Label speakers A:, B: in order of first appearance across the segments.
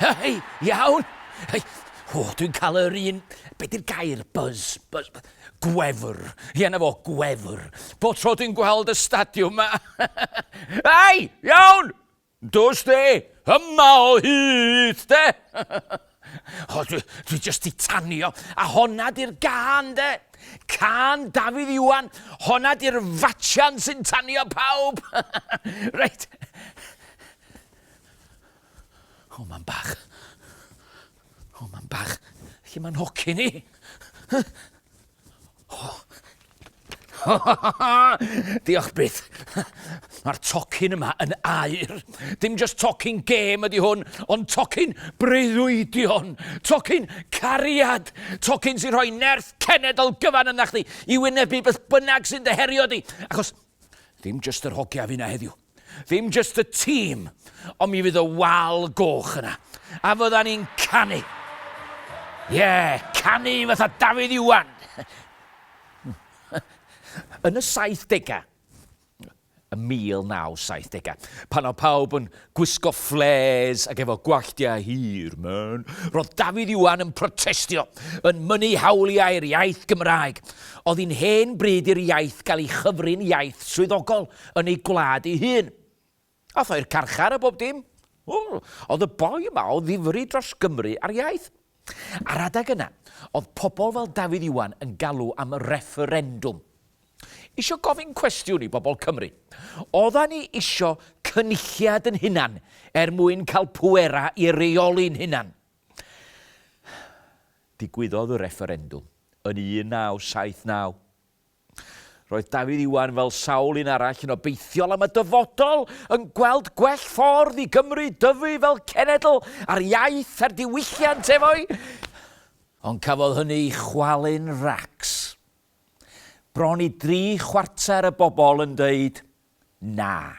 A: Hei, iawn! Hei, o, dwi'n cael yr un... Be di'r gair? Buzz. Buzz. Gwefr. Ie, na fo, gwefr. Bo tro dwi'n gweld y stadiwm yma. Hei, iawn! Dos de! Yma o hyd de! O, dwi, dwi just di tanio. A honna di'r gan de. Can Dafydd Iwan. Honna di'r fatsian sy'n tanio pawb. reit. O, mae'n bach. O, mae'n bach. Lle mae'n hoci ni? Diolch byth. Mae'r tocyn yma yn air. Dim just tocyn gêm ydy hwn, ond tocyn breuddwydion, tocyn cariad, tocyn sy'n rhoi nerth cenedl gyfan yna chdi i wynebu beth bynnag sy'n dyherio di. Achos dim just yr hogia fi na heddiw. Ddim jyst y tîm, ond mi fydd y wal goch yna. A fydda ni'n canu. Ie, yeah, canu fatha Dafydd Iwan. Yn y 70au, y 1970au, pan o pawb yn gwisgo fflês ac efo gwalltiau hir, man, roedd Dafydd Iwan yn protestio, yn mynnu hawliau'r iaith Gymraeg. Oedd hi'n hen bryd i'r iaith gael ei chyfrin iaith swyddogol. yn ei gwlad ei hun. Ath o i'r carchar a bob dim. Oedd y boi yma o ddifri dros Gymru a'r iaith. Ar adeg yna, oedd pobl fel Dafydd Iwan yn galw am refferendwm. Isio gofyn cwestiwn i bobl Cymru. Oedda ni isio cynulliad yn hunan er mwyn cael pwera i reoli'n hunan. Digwyddodd y refferendwm yn 1979. Roedd Dafydd Iwan, fel sawl un arall, yn obeithiol am y dyfodol, yn gweld gwell ffordd i Gymru dyfu fel cenedl a'r iaith a'r diwylliant efo'i. Ond cafodd hynny ei chwalu'n racs. Bron i dri chwarter y bobol yn deud 'na'.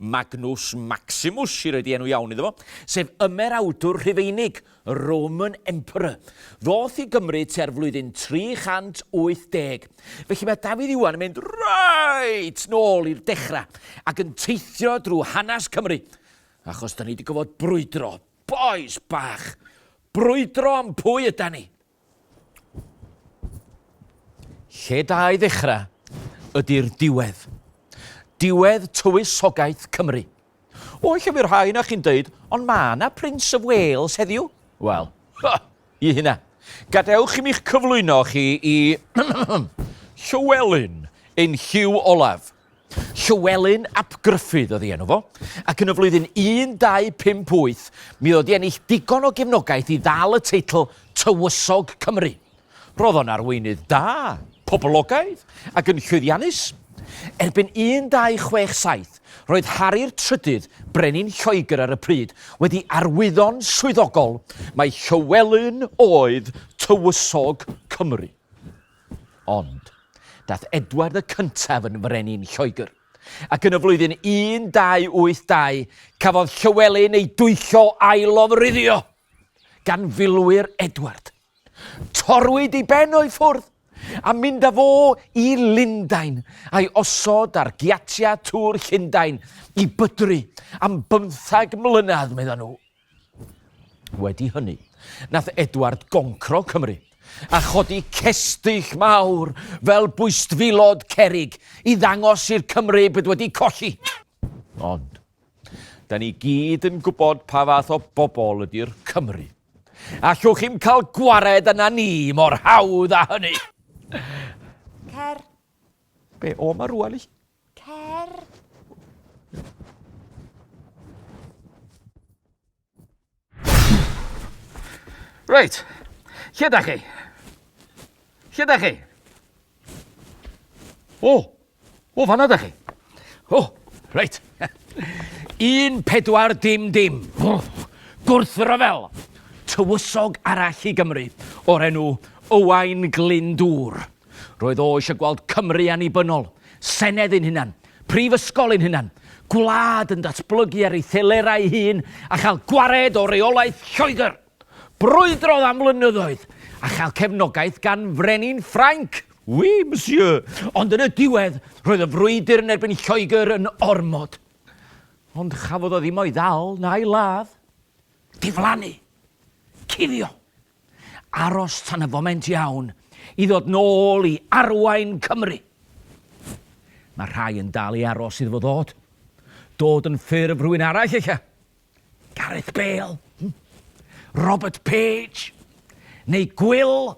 A: Magnus Maximus, sydd wedi enw iawn iddo fo, sef ymerawdwr Rhufeinig, Roman Emperor. Ddoth i Gymru tua'r flwyddyn 380. Felly mae Dafydd Iwan yn mynd reit nôl i'r dechrau ac yn teithio drwy hanes Cymru, achos da ni wedi gofod brwydro, bois bach, brwydro am pwy yda ni. Lle da i ddechrau ydy'r diwedd. Diwedd tywysogaeth Cymru. O, lle fy'r rhai na chi'n dweud, ond ma na Prince of Wales heddiw? Wel, ha, i hynna. Gadewch i mi'ch cyflwyno chi i Llywelyn ein Hugh Olaf. Llywelyn ap Gruffudd oedd ei enw fo, ac yn y flwyddyn 1258 mi oedd o 'di ennill digon o gefnogaeth i ddal y teitl Tywysog Cymru. Roedd o'n arweinydd da, poblogaidd ac yn llwyddiannus. Erbyn 1267, roedd Hari'r Trydydd, brenin Lloegr ar y pryd, wedi arwyddo'n swyddogol mai Llywelyn oedd Tywysog Cymru. Ond, daeth Edward y Cyntaf yn frenin Lloegr, ac yn y flwyddyn 1282 cafodd Llywelyn ei dwyllo a'i lofruddio gan filwyr Edward. Torwyd ei ben o'i ffwrdd, a mynd â fo i Lundain, a'i osod ar giatiau Tŵr Llundain i bydru am bymthag mlynedd, meddai nhw. Wedi hynny, nath Edward goncro Cymru, a chodi cestyll mawr fel bwystfilod cerrig i ddangos i'r Cymry bod wedi colli. Ond, da ni gyd yn gwybod pa fath o bobl ydy'r Cymry. Allwch chi'm cael gwared yna ni mor hawdd â hynny! Cer! Be, o ma rwan i? Cer! Reit, lle da chi? Lle da chi? O, o fanna da chi. O, reit. Un pedwar dim dim. O, gwrthryfel. Tywysog arall i Gymru o'r enw Owain Glyndŵr. Roedd o eisiau gweld Cymru annibynnol, senedd ein hunan, prifysgol ein hunan, gwlad yn datblygu ar ei thelerau ei hun a chael gwared o reolaeth Lloegr. Brwydrodd am flynyddoedd a chael cefnogaeth gan frenin Ffrainc. Oui, monsieur. Ond yn y diwedd, roedd y frwydr yn erbyn Lloegr yn ormod. Ond chafodd o ddim o'i ddal na'i ladd. Diflannu. Cuddio. Aros tan y foment iawn i ddod nôl i arwain Cymru. Mae rhai yn dal i aros iddo fo ddod. Dod yn ffurf rhywun arall ella. Gareth Bale, hmm? Robert Page, neu Gwyl.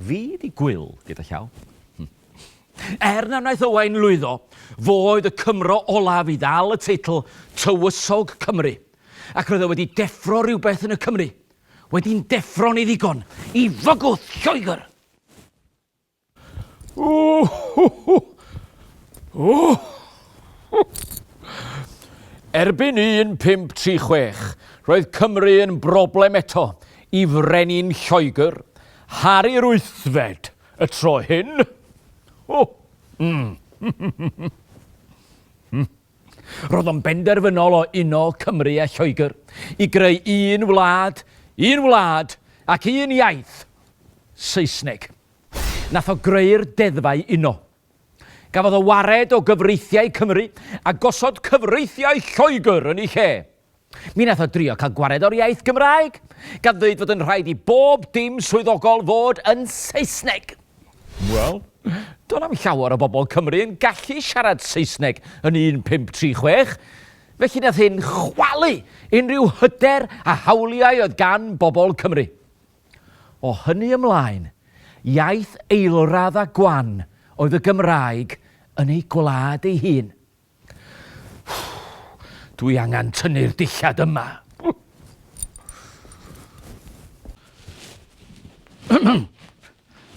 A: Fi 'di gwyl gyda llaw. Er na wnaeth Owain lwyddo, fo oedd y Cymro olaf i ddal y teitl Tywysog Cymru, ac roedd e wedi deffro rhywbeth yn y Cymry, wedi'n deffro'n ei ddigon i fygwth Lloegr! Erbyn 1536, roedd Cymru yn broblem eto, Y Frenin Lloegr, Harri yr Wythfed, y tro hyn. O! Mm. Roedd o'n benderfynol o uno Cymru a Lloegr i greu un wlad, un wlad ac un iaith, Saesneg. Nath o greu'r deddfau uno. Gafodd o wared o gyfreithiau Cymru a gosod cyfreithiau Lloegr yn ei lle. Mi wnaeth o drio cael gwared o'r iaith Gymraeg, gan ddweud fod yn rhaid i bob dim swyddogol fod yn Saesneg. Wel, do'n na'm llawer o bobl Cymru yn gallu siarad Saesneg yn 1536, felly nath hyn chwalu unrhyw hyder a hawliau oedd gan bobl Cymru. O hynny ymlaen, iaith eilradd a gwan oedd y Gymraeg yn ei gwlad ei hun. Dwi angen tynnu'r dillad yma.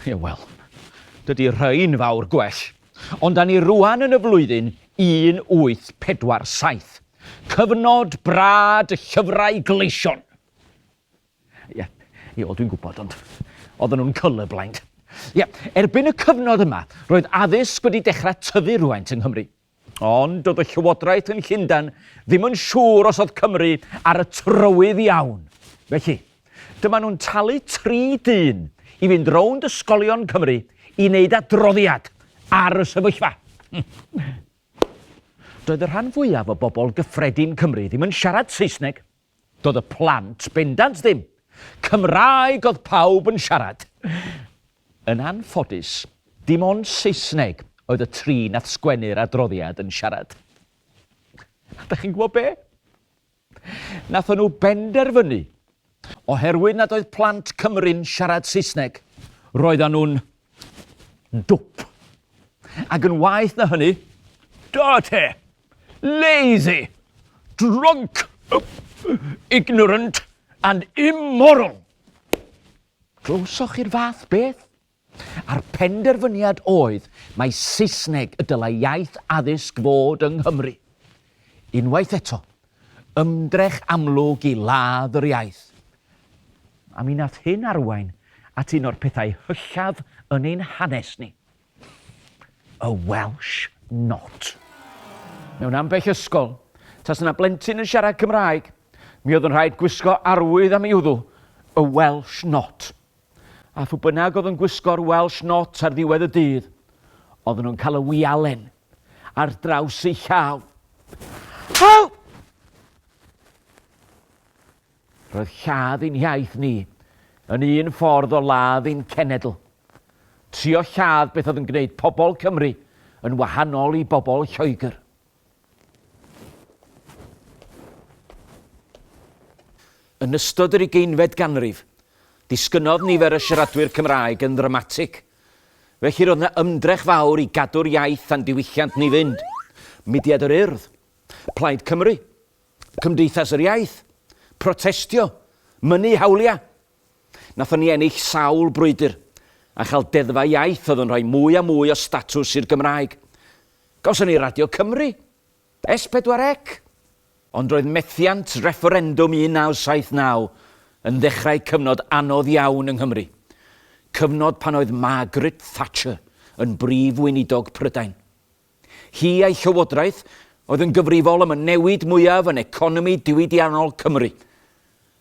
A: Ie, wel, dydy rhain fawr gwell. Ond da ni rwan yn y flwyddyn 1847. Cyfnod brad y llyfrau gleision. Ie, ie, wel dwi'n gwybod, ond oedden nhw'n colourblind. Ie, erbyn y cyfnod yma, roedd addysg wedi dechrau tyfu rhywfaint yng Nghymru. Ond doedd y llywodraeth yn Llundain ddim yn siŵr os oedd Cymru ar y trywydd iawn. Felly, dyma nhw'n talu tri dyn i fynd rownd ysgolion Cymru i wneud adroddiad ar y sefyllfa. Doedd y rhan fwyaf o bobl gyffredin Cymru ddim yn siarad Saesneg, Doedd y plant bendant ddim. Cymraeg oedd pawb yn siarad. Yn anffodus, dim ond Saesneg oedd y tri nath sgwennu'r adroddiad yn siarad. A dach chi'n gwybod be? Nathon nhw benderfynu, oherwydd nad oedd plant Cymru'n siarad Saesneg, roeddan nhw'n Dwp. Ac yn waeth na hynny, dirty, lazy, drunk, ignorant and immoral. Glywsoch chi'r fath beth? A'r penderfyniad oedd mai Saesneg y dylai iaith addysg fod yng Nghymru. Unwaith eto, Ymdrech amlwg i ladd yr iaith. A mi nath hyn arwain at un o'r pethau hyllaf yn ein hanes ni. Y Welsh Not. Mewn ambell ysgol, tasa 'na blentyn yn siarad Cymraeg, mi oedd yn rhaid gwisgo arwydd am ei wddw, y Welsh Not. A phw bynnag oedd yn gwisgo'r Welsh Not ar ddiwedd y dydd, oedden nhw'n cael y wialen. ar draws ei llaw. Help! Roedd lladd ein hiaith ni yn un ffordd o ladd ein cenedl. Trio lladd beth oedd yn gwneud pobl Cymru yn wahanol i bobl Lloegr. Yn ystod yr ugeinfed ganrif, disgynnodd nifer y siaradwyr Cymraeg yn ddramatig – Felly roedd yna ymdrech fawr i gadw'r iaith a'n diwylliant ni fynd. Mudiad yr Urdd, Plaid Cymru, Cymdeithas yr Iaith, protestio, mynnu hawliau. Nathon ni ennill sawl brwydr a chael deddfau iaith oedd yn rhoi mwy a mwy o statws i'r Gymraeg. Gawson ni Radio Cymru, S4C, ond roedd methiant refferendwm 1979 yn ddechrau cyfnod anodd iawn yng Nghymru, cyfnod pan oedd Margaret Thatcher yn Brif Weinidog Prydain. Hi a'i llywodraeth oedd yn gyfrifol am y newid mwyaf yn economi diwydiannol Cymru.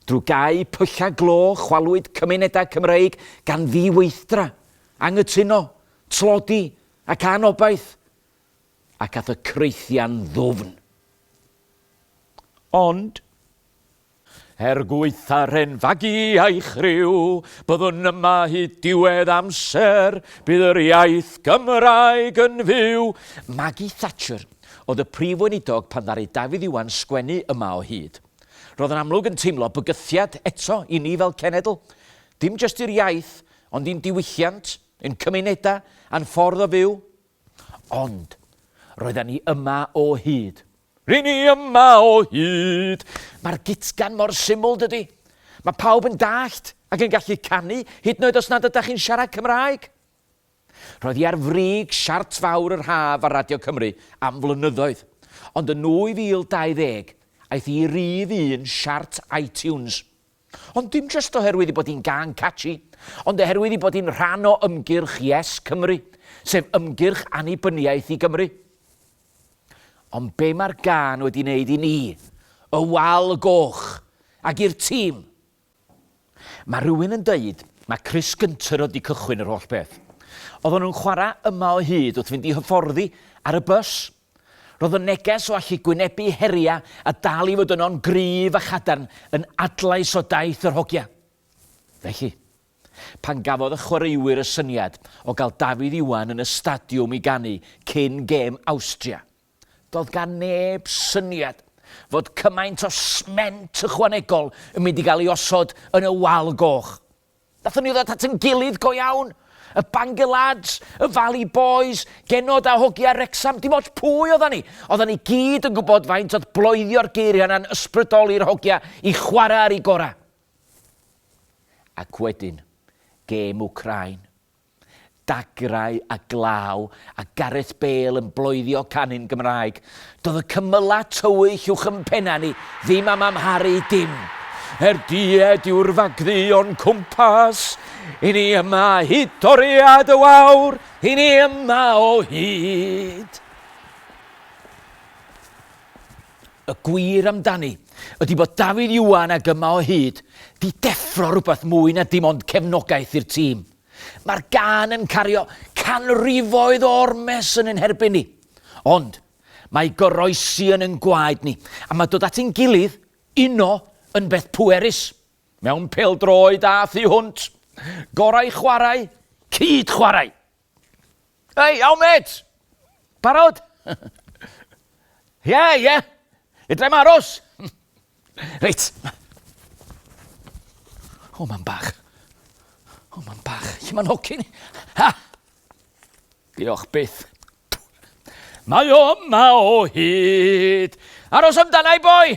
A: Drwy gau pyllau glo chwalwyd cymunedau Cymreig gan ddiweithdra, anghytuno, tlodi ac anobaith. ac at y creithian ddwfn. Ond, er gwaetha'r hen fagu a'i chriw, byddwn yma hyd diwedd amser, bydd yr iaith Gymraeg yn fyw! Maggie Thatcher oedd y Prif Weinidog pan ddaru Dafydd Iwan sgwennu yma o hyd. Roedd yn amlwg yn teimlo bygythiad eto i ni fel cenedl, dim jyst i'r iaith, ond i'n diwylliant, ein cymunedau, a'n ffordd o fyw. Ond, roedden ni yma o hyd. Ry'n ni yma o hyd! Mae'r gitgan mor syml, dydy? Mae pawb yn dallt ac yn gallu canu, hyd yn oed os nad ydych chi'n siarad Cymraeg. Roedd hi ar frig siart fawr yr haf ar Radio Cymru am flynyddoedd, ond yn 2020 aeth hi i rif un siart iTunes. Ond dim jyst oherwydd ei bod hi'n gân catchy, ond oherwydd ei bod hi'n rhan o ymgyrch Yes Cymru, sef ymgyrch annibyniaeth i Gymru. Ond be mae'r gân wedi wneud i ni, y Wal y Goch, ac i'r tîm? Mae rhywun yn dweud mae Chris Gunter oedd wedi cychwyn yr holl beth. Oedden nhw'n chwarae yma o hyd wrth fynd i hyfforddi ar y bws. Roedd y neges o allu gwynebu heriau a dal i fod yno'n gryf a chadarn yn adlais o daith yr hogia. Felly, pan gafodd y chwaraewyr y syniad o gael Dafydd Iwan yn y stadiwm i ganu cyn gêm Awstria, doedd gan neb syniad fod cymaint o sment ychwanegol yn mynd i gael ei osod yn y wal goch. Nathon ni ddod at yn gilydd go iawn. Y Bangor Lads, y Valley Boys, Genod a Hogia Wrecsam, dim ots pwy oddan ni, oddan ni gyd yn gwybod faint oedd bloedio'r geiriau yna'n ysbrydoli'r hogia i chwarae ar eu gorau. Ac wedyn, gêm Wcráin. Dagrau a glaw a Gareth Bale yn bloeddio canu'n Gymraeg. Doedd y cymylau tywyll uwch yn pennau ni ddim am amharu dim. Er died yw'r fagddu o'n cwmpas, i ni yma hyd toriad y wawr, i ni yma o hyd. Y gwir amdani ydi bod Dafydd Iwan ag Yma o Hyd 'di deffro rhywbeth mwy na dim ond cefnogaeth i'r tîm. Mae'r gân yn cario canrifoedd o ormes yn ein herbyn ni. Ond, mae goroesi yn ein gwaed ni, a mae dod at ein gilydd, uno, yn beth pwerus. Mewn pêl-droed a thu hwnt. Gorau chwarae, cyd-chwarae! Hei, iawn mêt! Barod? Ie, ie. Fedrai'm aros. Reit. O, mam bach. O, mam bach. Lle mae'n hocyn? Ha! Diolch byth. Mae o yma o hyd. Aros amdana i boi!